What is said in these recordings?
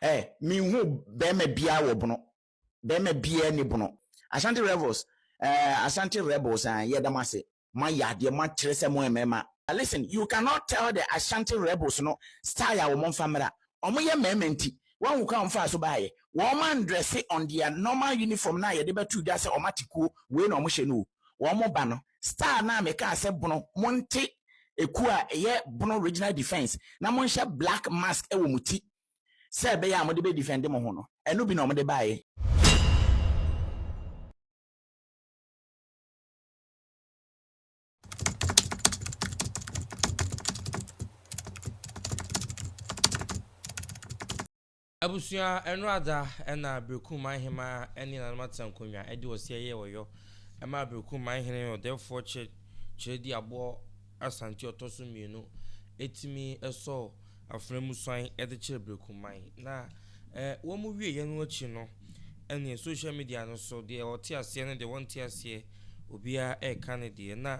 ɛ menhuu bɛrima biara wɔ bono bɛrima biara ni bono Ashanti Rebels ɛɛ Ashanti Rebels ɛɛ yɛda mo ase moayɛ adeɛ moakyerɛ sɛ moyɛ mmarima listen you cannot tell the Ashanti Rebels no style a wɔn mfa mmra wɔn yɛ mmarima nti woahu kwan a wɔn faa so baeɛ wɔn andrɛse on their normal uniform no a yɛde bɛto dwa sɛ wɔn ate kuo wei na wɔn hyɛ no o wɔn ba no Star no a mekaa sɛ bono monte ɛkuo a ɛyɛ bono regional defence na monhyɛ black mask wɔ mo ti sɛ ɛbɛyɛ a mode bɛ defend mo ho no ɛno bi na wɔde baeɛ. Abusua ɛno ada ɛna Berekum Manhemaa ɛne nananom atena nkonwa ɛde ɔseɛ yɛɛ ɔyɔ ɛmaa Berekum Manhene ɔdɛɛfoɔ kyɛ kyerɛ di aboɔ Asante ɔtɔso mmienu ɛtumi ɛsɔɔ afena mu suan ɛde kyerɛ Berekum Man na ɛ wɔn wie yɛ no akyi no ɛneɛ social media no so deɛ ɔte aseɛ ne deɛ ɔnte aseɛ obiara ɛreka ne deɛ na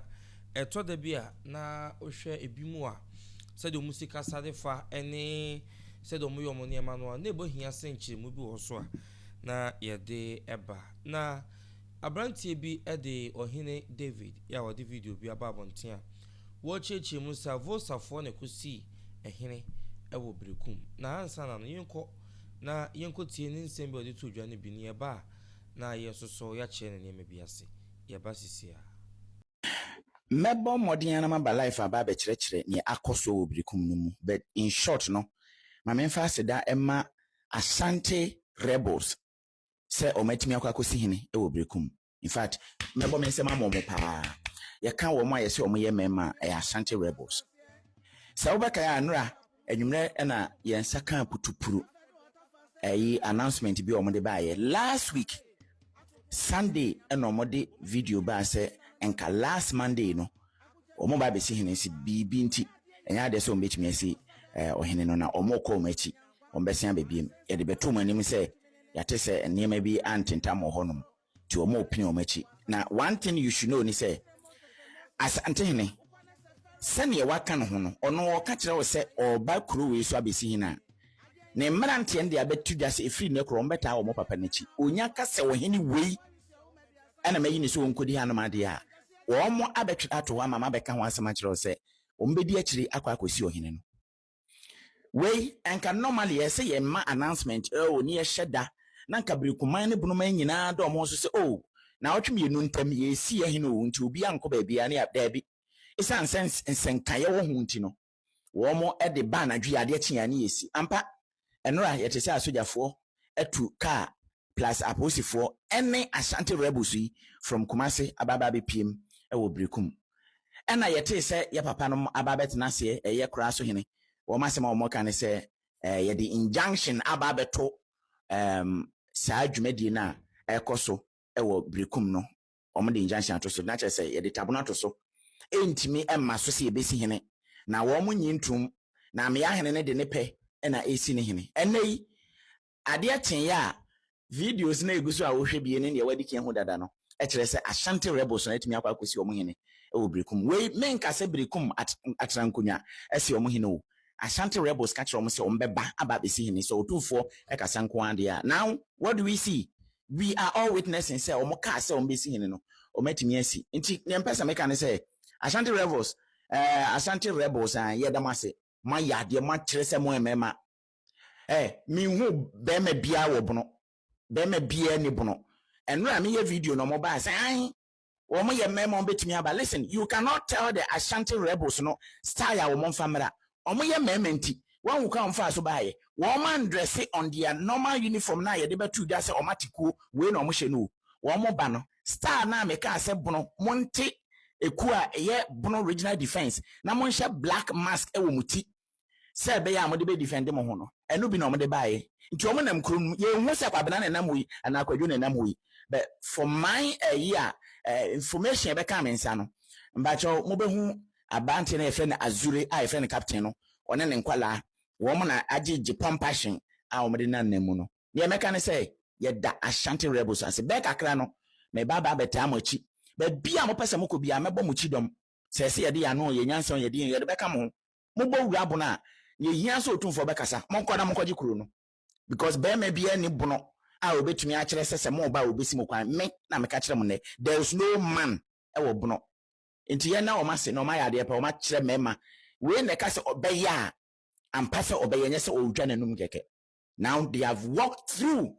ɛtɔ da bi a na wohwɛ ɛbi mu a sɛdeɛ wɔn si kasa de fa ɛne sɛdeɛ wɔyɛ wɔn nneɛma no a, na ɛbɔ hia sɛ nkyerɛmu bi wɔ hɔ so a na yɛde ba. Na aberanteɛ bi de Ɔhene David a wɔde video bi aba abɔnten a wɔrekyerɛkyerɛ mu sɛ Avosafoɔ na ɛkɔsii ɛhene wɔ Berekum. Na ansa na no, yɛnkɔ na yɛnkɔtie ne nsɛm bi a ɔde too dwa no bi, na yɛba a na yɛn nso so yɛakyerɛ no nneɛma bi ase. Yɛba seesei ara. Mɛbɔ mmɔden ara maba life aba abɛkyerɛkyerɛ nea akɔ so wɔ Berekum no mu but in short no ma memfa aseda mma Asante rebels sɛ wɔn atumi akɔ akɔsi hene wɔ Berekum. In fact mɛbɔ me nsam ama wɔn paa. Yɛka wɔn a yɛse wɔyɛ mmarima a ɛyɛ Asante rebels. Sɛ wobɛkae a Nora Anwummerɛ na yɛn nsa kaa putupuru ɛyi announcement bi a wɔde baayɛ last week Sunday na wɔde video baa sɛ nka last Monday no wɔn ba abɛsi hene si biribi nti ɛnyɛ adeɛ sɛ wɔn bɛtumi asi ɛɛ eh, ɔhene no na wɔn kɔ wɔn akyi wɔn bɛsen abɛbiem yɛde bɛto wɔn anim sɛ yɛate sɛ nneɛma bi antentam wɔ hɔnom nti wɔn repene wɔn akyi. Na one thing you should know ni sɛ, Asantehene, sɛdeɛ waka ne ho no, ɔno ɔka kyerɛ wo sɛ ɔreba kuro wei so abɛsi hene a, ne mmeranteɛ no de abɛto dwa sɛ ɛfiri nnɛ korɔ wɔn bɛtaa wɔn papa no akyi. Ɔnya ka sɛ ɔhene wei ɛna mayi ne sɛ ɔnkɔdi hanom adeɛ a, wɔn abɛtwerɛ ato hɔ ama mabɛka ho asɛm akyerɛ wo sɛ wɔn bɛdi akyire akɔ akɔsi ɔhene no. Wei anka normally ɛyɛ sɛ yɛn ma announcement oh ne yɛhyɛ da na anka birikuman ne bonoman nyinaa dɔ wɔn ho so sɛ oh naawɔtwe mmienu ntam yɛresi yɛ hene oh nti obiara nkɔ baabiara ne yɛ daabi ɛsiane sɛ nsɛnkaeɛ wɔ ho nti no wɔn de ba anadwo yɛ adeɛ kye yɛ ne yɛsi ampa ɛnora yɛte sɛ asogyafoɔ atu kaa plus apolisifoɔ ne Ashanti rebels yi from Kumasi aba aba abɛpiem wɔ Berekum. Ɛna yɛtee sɛ yɛ papa nom aba abɛtena aseɛ ɛyɛ Kora so hene. Wɔn asɛm a wɔka ne sɛ eh, yɛde injunction aba abɛto um, saa dwumadie no a ɛrekɔ so wɔ Berekum no. Wɔn de injunction ato so, na kyerɛ sɛ yɛde tabono ato so. Ɛntumi mma so sɛ yɛbɛsi hene. Na wɔn nyi ntom. Na Ameya hene no de ne pɛ na ɛresi ne hene. Ɛnnɛ yi, Adeɛ kyeeɛ a, videos no a ɛgu so a wohwɛ bie ne deɛ woadi kan ahu dada no kyerɛ sɛ Ashanti rebels no atumi akɔ akɔsi wɔn hene wɔ Berekum. Wei, menka sɛ Berekum at atena nkonnwa asi wɔn hene o. Ashanti rebels ka kyerɛ wɔn sɛ wɔbɛba aba abɛsi hene. Sɛ Otumfoɔ kasa nko ara deɛ a. Now, what do we see? We are all witnessing sɛ wɔkaa sɛ wɔbɛsi hene no, wɔatumi asi. Nti, deɛ mpɛ sɛ meka ne sɛ, Ashanti rebels, eh, Ashanti rebels, ah, yɛda mo ase. Moayɛ adeɛ, moakyerɛ sɛ moyɛ mmarima. Eh, menhu bɛrima biara wɔ bono. Bɛrima biara ni bono. Ɛnora a meyɛ video no, wɔbaa sɛ, Ae, wɔyɛ mmarima, wɔbɛtumi aba. Listen, you cannot tell the Ashanti rebels no style a wɔmfa mmra. Wɔyɛ mmarima nti, woahu kwan a wɔfaa so baeɛ? Wɔandrɛse on their normal uniform no a yɛde bɛto dwa sɛ wɔate kuo wei na wɔhyɛ no o. Wɔba no, style no a mekaa sɛ bono, monte ekuo a ɛyɛ bono regional defence na monhyɛ black mask wɔ mo ti sɛ ɛbɛyɛ a mode bɛ defend mo ho no, ɛno bi na wɔde baeɛ. Nti wɔn nam kuro no mu, yɛnhu sɛ Kwabena na ɛnam hɔ yi anaa Kwadwo na ɛnam hɔ yi, but for my ɛyi a, eh, information a ɛbɛkaa me nsa no, mpakyɛw mobɛhu aberanteɛ no a yɛfrɛ no Azure a yɛfrɛ no Captain no, ɔne ne nkwadaa, wɔn na agye gye pumpassion a wɔde nam nam mu no. Deɛ mɛka ne sɛ, yɛda Ashanti Rebels ase. Bɛyɛ kakra no, meba aba abɛtaa mo akyi. Baabi a mopɛ sɛ mokɔ biara, mɛbɔ mo kyidɔm. Sɛ ɛsɛ yɛde yɛn ano, yɛn nyansa, yɛn din, yɛde bɛka mo ho. mobɔ wura bono a nea ehia sɛ otumfoɔ bɛkasa monkɔ na monkɔgye kuro no because barima biara nni bono a obetumi akyerɛ sɛ sɛ moreba a obesi mo kwan me na meka kyerɛ mo nnɛ there is no man wɔ bono nti yɛn na wɔn ase na wɔn ayɛ adeɛ pɛ wɔn akyerɛ mmarima wei na ɛka sɛ ɔbɛyɛ a ampa sɛ ɔbɛyɛ nyɛ sɛ ɔretwa n'anum kɛkɛ now they have walked through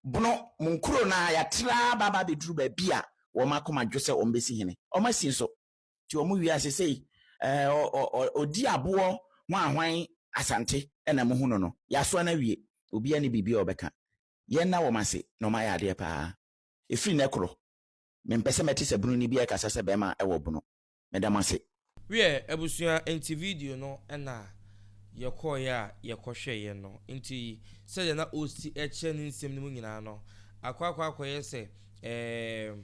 bono mo nkuro no a yɛatra baaba abɛduru baabi a wɔn akoma dwo sɛ wɔn bɛsi hene wɔn asi nso nti wɔn wiase sei ɛɛ ɔdi aboɔ hwan hwan asante ɛna mo hu no no yasoa no awie obiara ne biribi a ɔbɛka yɛn na wɔn ase na wɔn ayɛ adeɛ paa efiri nɛ korɔ mempɛ sɛ mɛte sɛ bunu ni bi ɛkasa sɛ bɛɛma ɛwɔ bunu meda mo ase. Wiɛ abusua nti video no na yɛkɔɔeɛ a yɛkɔhwɛeɛ no nti sɛdeɛ na ɔsi kyerɛ ne nsɛm no mu nyinaa no akɔ akɔ akɔyɛ sɛ ɛɛm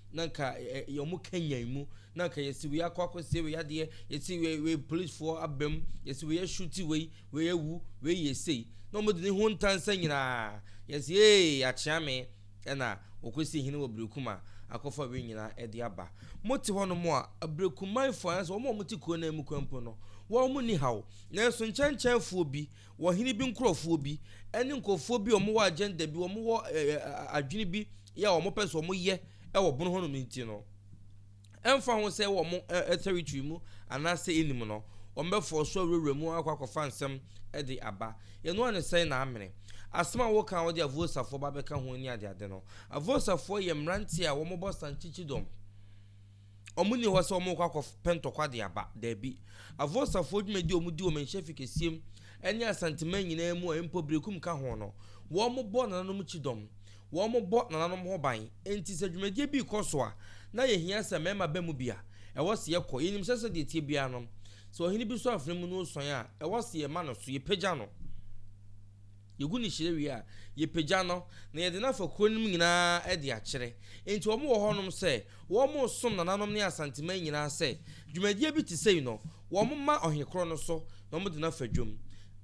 na nka ɛ ɛ wɔn kanyan mu na nka yɛsi wei akɔ akɔsie wei adeɛ yɛsi wei wei polisifoɔ aba mu yɛsi wei ahyuti wei wei awu wei yɛ sei na wɔn de ne ho ntansa nyinaa yɛsi ee akyea me ɛna wɔkɔsi hene wɔ berekuma akɔfa wei nyinaa ɛde aba mote hɔ nom a aberekumanfoɔ anasɛ wɔn a wɔte kuro no mu kwan mpo no wɔn ni haw nanso nkyɛnkyɛnfoɔ bi Wɔ hene bi nkurɔfoɔ bi, ɛne nkurɔfoɔ bi a wɔwɔ agenda bi, wɔwɔ adwene bi yɛ a wɔpɛ sɛ wɔyɛ wɔ bono hɔ nom nti no, ɛmfa ho sɛ wɔ mo territory mu anaasɛ ɛnim no, wɔbɛfɔɔ so awurawura mu akɔ akɔfa nsɛm de aba. Yɛno ara ne sɛn na amene. Asɛm a woka a wode Avosafoɔ ba bɛka ho ne adeade no, Avosafoɔ yɛ mmeranteɛ a wɔbɔ sankyikyidɔm. Wɔnni hɔ sɛ wɔrekɔ akɔpɛ ntɔkwa de aba. Dabi. Avosafoɔ dwumadi a wɔdi wɔ Manhyia Fi kɛseɛ mu ne Asanteman nyinaa mu a mpo Berekum ka ho no, wɔbɔ nananom kyidɔm. Wɔbɔ nananom ho ban. Enti sɛ dwumadie bi rekɔ so a, na yɛhia sɛ mmarima ba mu bi a, ɛwɔ sɛ yɛkɔ. Yɛnim sɛ sɛdeɛ ɛteɛ biara no, sɛ ɔhene bi so afena mu na ɔresuan a, ɛwɔ sɛ yɛma no so, yɛpagya no. Yegu no hyire wie a, yɛpagya no, na yɛde no afa kuro no mu nyinaa de akyerɛ. Enti wɔn wɔ hɔnom sɛ wɔresom nananom ne Asanteman nyinaa sɛ dwumadie bi te sei no, wɔmma ɔhene korɔ no so na wɔde no afa dwam.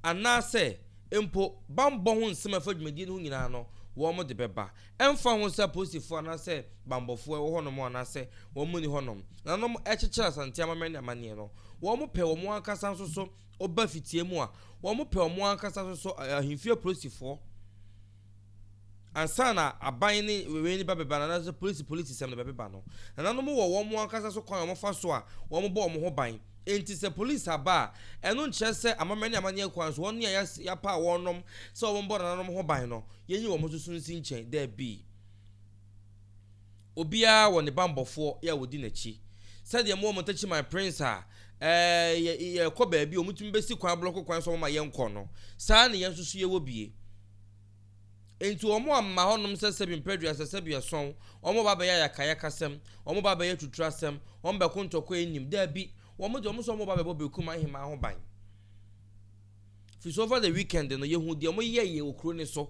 Anaasɛ mpo bammɔ ho nsɛm a ɛfa dwumadie no ho nyinaa no, wɔde bɛba. Ɛmfa ho sɛ apolisifoɔ anaasɛ bammɔfoɔ wɔ hɔnom anaasɛ wɔn nni hɔnom, nananom kyekyere Asante amammerɛ ne amanneɛ no, wɔpɛ wɔn ankasa nso so Ɔba fitia mu a, wɔn pɛ wɔn ankasa so so ahemfie apolisifoɔ ansa na aban ne wei ne bɛbeba no anaasɛ polisi polisi sɛm no bɛbeba no. Nananom wɔ wɔn ankasa so kwan a wɔfa so a wɔbɔ wɔn ho ban. Enti sɛ polisi aba a, ɛno nkyerɛ sɛ amammerɛ ne amanneɛ kwan so wɔn a yɛapaw wɔnom sɛ wɔmmɔ nananom ho ban no, yɛnyi wɔn so so nsi nkyɛn. Dabi. Obiara wɔ ne bammɔfoɔ a wɔdi n'akyi. Sɛdeɛ mowɔ mo ntakyi man Prince a, ɛɛ, yɛ, yɛrekɔ baabi a wɔtumi bɛsi kwan, blɔko kwan so wɔma yɛnkɔ no, saa ara na yɛn nso so yɛwɔ bie. Enti wɔamma hɔnom sɛ sɛbi mprɛduasa, sɛbi ɛsɔn, wɔreba abɛyɛ ayakayakasɛm, wɔreba abɛyɛ atuturasɛm, wɔbɛko ntɔkwa nnim. Daabi, wɔn deɛ wɔn sɛ wɔreba abɛbɔ Berekum Ahemaa ho ban. Firi so over the weekend no yɛhuu deɛ ɔmo yɛeɛ wɔ kuro no so.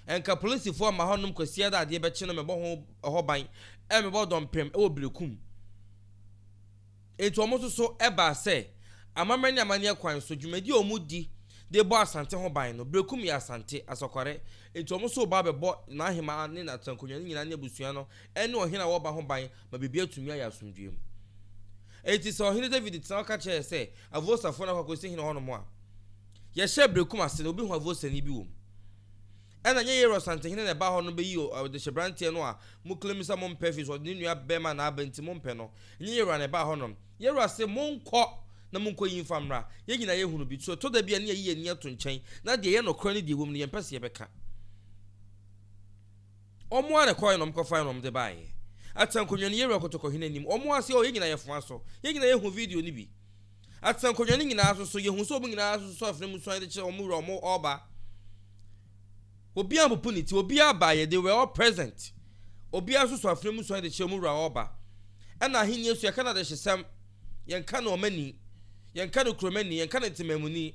Nka polisifoɔ mma hɔ nom Kwasiada a adeɛ bɛkye no mebɔ ho ɛhɔ ban ɛna mebɔ dɔmpem ɛwɔ Berekum. Enti ɔmo nso so ɛbaa sɛ amammerɛ ne amanneɛ kwan so dwumadie a ɔmo di de bɔ Asante ho ban no, Berekum yɛ Asante, Asakware, enti ɔmo nso reba abɛbɔ n'ahemaa ne n'atenakonwa no nyinaa ne abusua no ɛne ɔhene a ɔreba ho ban ma biribiara atumi ayɛ asomdwoeɛ mu. Enti sɛ Ɔhene Dawid tena hɔ ka kyerɛ yɛn sɛ Avosafo no akɔ akosi hene hɔnom a, yɛhyɛ abirekum ase na obi hu Avosani bi wom. Ɛna ɛnyɛ Yair Ɔsantehene na ɛbaa hɔ no beyii ɔdehyeberanteɛ no a mo claim sɛ mompɛ firi sɛ ɔde ne nua bɛrima na aba nti mompɛ no. Ɛnyɛ Yair na ɛbaa hɔnom. Yair se monkɔ na monkɔ yi mfa mmra. Yɛn nyinaa yɛhunu bi. So ɛtɔ da bi a ne yɛyi yɛn ani to nkyɛn na deɛ ɛyɛ nokorɛ ne deɛ ɛwom no yɛmpɛ sɛ yɛbɛka? Wɔn ara na ɛkɔɔɛ na wɔn kɔfaeɛ na wɔn de baeɛ. Atsenankonnwa no, yɛwura kɔtɔ kɔhene anim. Wɔn ara se, Oh, yɛn nyinaa yɛfo aso. Yɛn nyinaa yɛhu video no bi. Atsenankonnwa no nyinaa so so, yɛhu sɛ wɔn nyinaa ara soso afena mu suan de kyerɛ wɔn wura a wɔn reba. Obiara ampopo ne ti. Obiara abaeɛ. They were all present. Obiara soso afena mu suan de kyerɛ wɔn wura a ɔreba. Ɛna ahennie nso, yɛka no adehyesɛm. Yɛnka no ɔmani. Yɛnka no kuromani. Yɛnka no ntemammuni.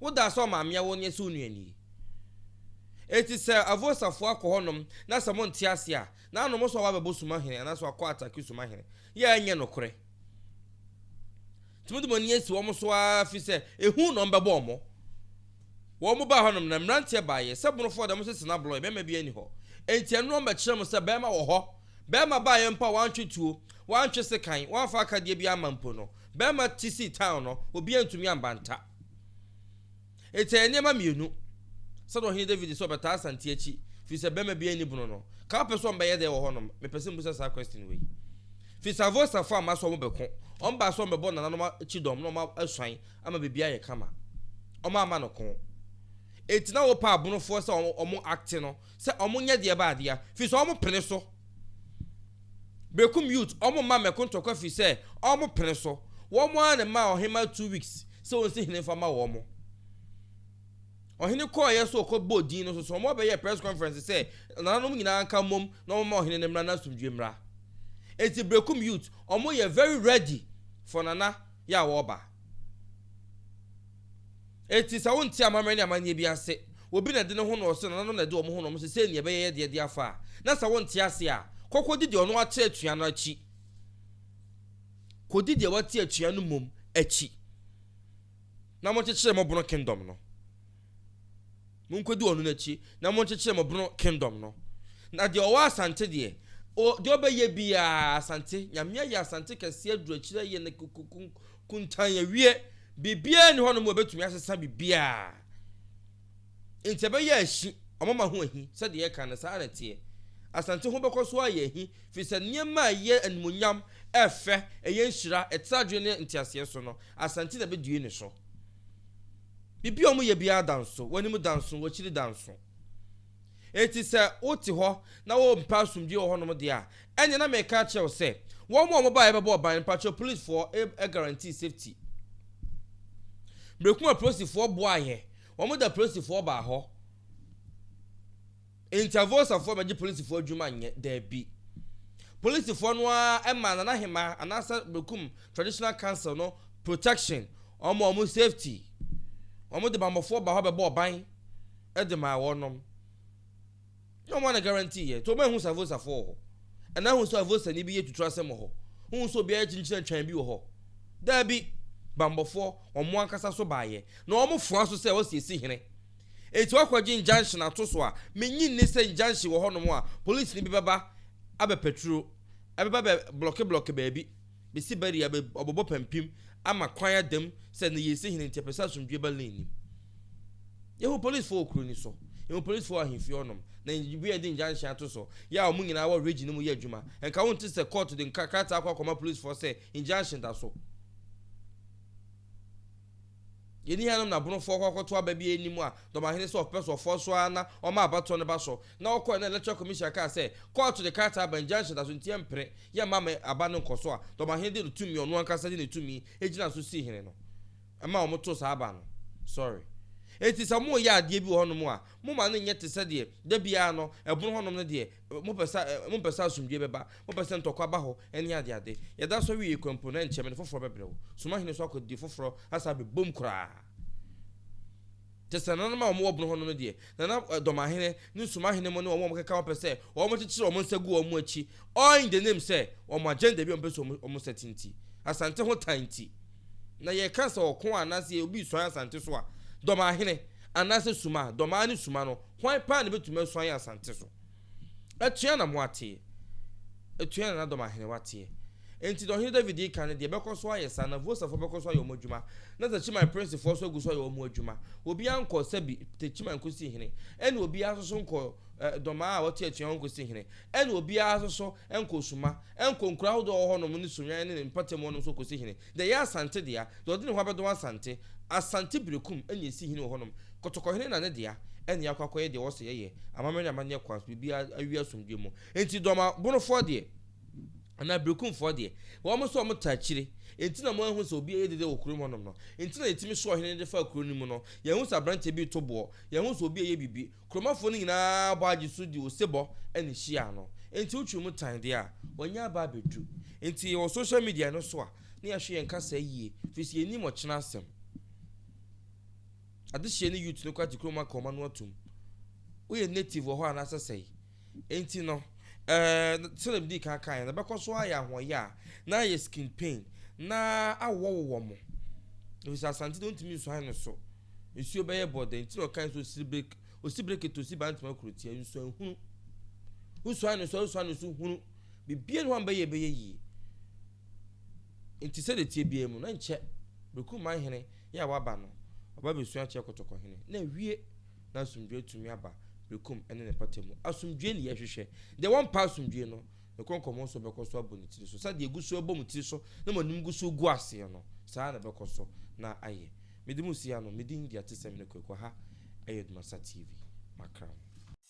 Wo da sɛ ɔmamea wo nyɛ sɛ wo nuani. Enti sɛ Avosafo akɔ hɔ nom na sɛ mo nte ase a, na nom nso wabɛbɔ suma hene anaa sɛ wakɔ atake suma hene. Yɛ a ɛnyɛ nokorɛ. Nti mo de mo ani asi wɔn so ara firi sɛ ehu nom bɛbɔ wɔn. Wɔn baa hɔ nom na mmeranteɛ baa yɛ, sɛ bonofoɔ deɛ mo se sena blɔɔɛ, bɛɛma biara nni hɔ. Enti ɛno nom bɛkyerɛ mo sɛ bɛɛma wɔ hɔ. Bɛɛma baa yɛ mpo a wantwe tuo, wantwe sekan, wamfa akadeɛ biara amma mpo no, bɛɛma te sii town no, obiara ntumi ambantaa. Enti ɛyɛ nneɛma mmienu. Sɛdeɛ ɔhene David sɛ ɔbɛtaa Asante akyi firi sɛ bɛrima biara nni bono no, ka wopɛ sɛ wɔn bɛyɛ dɛn wɔ hɔ nom? Mepɛ sɛ mebusa saa question wei. Firi sɛ Avostafoɔ amma sɛ wɔn bɛko, wɔn baa sɛ wɔn bɛbɔ nananom akyi dɔm na wɔn asuan ama biribi ayɛ kama. Wɔn amma no ko. Enti na wopɛ abonofoɔ sɛ wɔn wɔn acte no sɛ ɔmo nyɛ deɛ baa dea firi sɛ ɔmo pene so bekum youth ɔmo mma mmɛko ntɔkwa firi sɛ ɔmo pene so wɔn ara na ɛmaa ɔhemaa two weeks sɛ ɔnsi hene nfa ma wɔn ɔhene kɔɔyɛ so ɔkɔ bɔɔ din no so so ɔmo abɛyɛ press conference sɛ nananom nyinaa nka mmom na ɔmo ma ɔhene no mmra na asomdwe mmra eti bekum youth ɔmo yɛ very ready for nana yɛ a wɔba. Enti sɛ wonte amammerɛ ne amanneɛ bi ase, obi na ɛde ne ho na ɔse nananom na ɛde wɔn ho na wɔn se sei nea ɛbɛyɛ yɛ deɛ de afa a, na sɛ wonte ase a, kɔ kɔdi deɛ ɔno ate atua no akyi. Kɔdi deɛ wate atua no mmom akyi. Na monkyekyere mo bono kingdom no. Monkɔdi ɔno no akyi, na monkyekyere mo bono kingdom no. Na deɛ ɔwɔ asante deɛ, o, deɛ ɔbɛyɛ biara, asante, Nyame ayɛ asante kɛseɛ aduru akyire ayɛ no kuntan awie, biribiara nni hɔnom a ɛbɛtumi asesa biribiara. Enti ɛbɛyɛ ahi, wɔama ho ahi, sɛdeɛ yɛka no, saa ara na ɛteɛ. Asante ho bɛkɔ so ayɛ ahi, firi sɛ nneɛma a ɛyɛ animuonyam, ɛyɛ fɛ, ɛyɛ nhyira, ɛtra adwene ne nteaseɛ so no, asante na ɛbɛdue ne so. Biribi a wɔyɛ biara da nso, w'anim da nso, w'akyiri da nso. Enti sɛ wote hɔ na wompɛ asomdwoe wɔ hɔnom deɛ a, ɛnneɛ na mereka akyerɛ wo sɛ, wɔn a wɔbaeɛ bɛbɔɔ ban no, mpakyɛw polisfoɔ guarantee safety. Mmerɛkuma polisifoɔ boaeɛ, wɔde apolisifoɔ baa hɔ. Intervosafoɔ bɛgye polisifoɔ adwuma nyɛ? Daabi. Polisifoɔ no ara maa Nana Hemaa anaasɛ Berekum Traditional Council no protection, wɔn ma wɔn safety. Wɔn de bammɔfoɔ baa hɔ bɛbɔɔ ban de maa wɔnom. Nyɛ wɔn a na guarantee yɛ. Nti wɔn anhu sɛ Avosafoɔ wɔ hɔ? Anaa ahu sɛ Avosani bi yɛ tutu asɛm wɔ hɔ? Wohu sɛ obiara kyinkyini atwan bi wɔ hɔ? Daabi. Bammɔfoɔ, wɔn ankasa so baeɛ. Na wɔn foa so sɛ wɔsiesie hene. Enti wɔakɔgye injunction ato so a, minnye nni sɛ injunction wɔ hɔnom a polisini bi bɛba abɛpaturu, ɛbɛba abɛblɔkeblɔke baabi, besi barrier, abobɔ pampim, ama kwan ada mu sɛ nneyɛe si hene nti yɛpɛ sɛ asomdwoe ba Lane nim. Yehu polisifo wɔ kurow no so, yehu polisifo wɔ ahemfie hɔnom, na yɛn bia yɛde injunction ato so. Yɛ a wɔn nyinaa wɔ region no mu yɛ adwuma. Ɛnka wonte sɛ kɔɔto de krataa kɔ akɔma polisifo sɛ injunction da so. Yɛnni ha nom na Bonofoɔ kɔ akɔto aba bi anim a Dɔmahene sɛ ɔpɛ so ɔfoɔ so ara na ɔma abatoɔ no ba so. Na ɔkɔɔɛ na Electoral Commission kaa sɛ kɔɔto de krataa aba injunction da so nti yɛmpere, yɛmma ma aba no nkɔso a Dɔmahene de ne tumi a ɔno ankasa de ne tumi gyinaa so sii hene no ma wɔn too saa aba no. Sorry. Enti sɛ moreyɛ adeɛ bi wɔ hɔ nom a moma no nyɛ te sɛdeɛ da biara no ɛbono hɔ nom no deɛ Mopɛ sɛ ɛ, mopɛ sɛ asomdwoe bɛba, mopɛ sɛ ntɔkwa ba hɔ, ne adeade. Yɛda so wie kwa mpo no, ɛnkyɛ mene foforɔ bɛbrɛ wo. Soma hene so akwadie foforɔ asan abɛbom koraa. Te sɛ nananom a wɔwɔ bono hɔ no no deɛ, na na dɔmahene ne nsumahene mo ne wɔn a wɔkeka ho pɛ sɛ wɔkyekyere wɔn nsa gu wɔn akyi, all in the name sɛ wɔn agenda bi a wɔpɛ sɛ wɔn nsa ti nti. Asante ho tan nti. Na yɛka sɛ ɔko a anaasɛ obi resuan Asante so a, dɔmahene anaasɛ suma, dɔmaa ne suma no, Hwan paa na ebetumi asu ayɛ asante so? Atua na moateɛ, atua na n'adɔm ahenewa teɛ. Enti deɛ Ɔhene David reka ne deɛ, bɛkɔ so ayɛ saa, na Vosafoɔ bɛkɔ so ayɛ wɔn adwuma, na Techiman princefoɔ nso agu so ayɛ wɔn adwuma. Obiara nkɔɔ Sebi, Techiman nkɔsii hene, ɛnna obiara nso so nkɔɔ Dɔmaa a ɔte atua hɔ nkɔsii hene, ɛnna obiara nso so nkɔɔ Suma, nkɔɔ nkuro ahodoɔ a ɛwɔ hɔnom ne Soan ne ne mpɔtam hɔnom so nkɔsii hene. Deɛ ɛyɛ Asante dea, deɛ ɔde ne ho abɛdɔm Asante, Asante Berekum ɛna ɛsi hene wɔ hɔ nom, Kotɔkɔhene na ne dea, ɛna yɛakɔ akɔyɛ deɛ ɔsɛ yɛyɛ, amammerɛ ne amanneɛ kwan so, biribiara awie asomdwoeɛ mu. Enti Dɔmabonofoɔ deɛ, anaa Berekumfoɔ deɛ, wɔn nso wɔn taa kyire, enti na moanhu sɛ obiara yɛ dede wɔ kurom hɔnom no, enti na yɛtumi soɔ ɔhene no de faa kuro no mu no, yɛanhu sɛ aberanteɛ bi reto boɔ, yɛanhu sɛ obi reyɛ biribi, Kuromafo no nyinaa bɔ agye so de osebɔ na ehyiaa no. Enti wotwiri mu tan de a, wɔanya aba abedu. Enti yɛwɔ social media no so a, na yɛhwɛ yɛn kasaa yie, firi sɛ yɛnnim ɔkyena asɛm. Adehyeɛ ne youth no kɔ agye kurom aka wɔn ano atum. Woyɛ native wɔ hɔ anaasɛ sɛe? Enti no, eh, sɛnea midii kan kae no, ɛbɛkɔ so ayɛ ahoɔyaa, na ayɛ skin pain, na awowɔwowɔ mo, efisɛ asante no ntumi nsuan no so. Nsuo bɛyɛ bɔdɛ. Enti na ɔkae sɛ osiri bere, osi bere kete, osi ba ntoma kurotia, nsuan hunu. Wosuan no so a, wosuan no so hunu. Biribiara nni hɔ a mbɛyɛ ɛbɛyɛ yie. Enti sɛdeɛ tie biara mu, na nkyɛ Berekumman hene yɛ a waba no, ɔba abɛsua akyerɛ Kɔtɔkɔhene, na awie. na asomdwoe tumi aba bekum ne ne mpata mu. Asomdwoe na yɛhwehwɛ. Deɛ wɔmpɛ asomdwoe no, ne kɔn kɔmɔ nso bɛkɔ so abɔ ne tiri so. Sɛdeɛ egu so bɔ mo tiri so na mo anim gu so gu aseɛ no, saa ara na ɛbɛkɔ so na ayɛ. Mede mo si ha no, me din de Atesɛm ne Kwaku. Ha yɛ Dumasa TV. Makra mo.